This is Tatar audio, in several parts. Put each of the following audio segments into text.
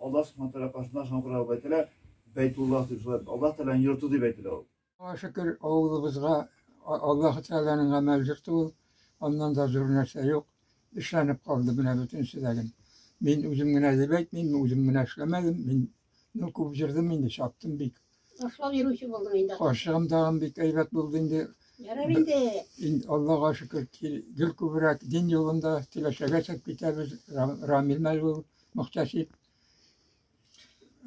Аллаһ Субхана Тәгалә каршында шуңа күрә алып әйтелә, Бәйтуллаһ дип шулай Аллаһ Тәгаләнең йорты дип әйтелә ул. Аллаһыга шөкер, авылыбызга Аллаһ Тәгаләнең гамәл йорты ул, аннан да зур нәрсә юк. Эшләнеп калды менә бөтенесе дә гел. Мин үзем генә дип әйтмим, үзем генә эшләмәдем, мин ну күп җырдым инде, чаптым бик. Ташлап йөрүче булдым инде. Ашам тагын бик әйбәт булды инде. Ярар инде. Инде Аллага шөкер, гел күбрәк дин юлында киләчәгә чәк китәбез. Рамил Мәлул мөхтәсиб.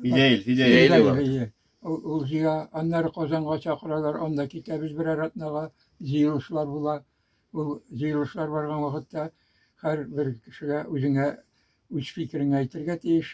Фидейл, Фидейл. Ул җыя, аннары Казанга чакыралар, анда китәбез берәр атнага, җыелышлар була. Ул җыелышлар барган вакытта һәр бер кешегә үзеңә үз фикереңне әйтергә тиеш.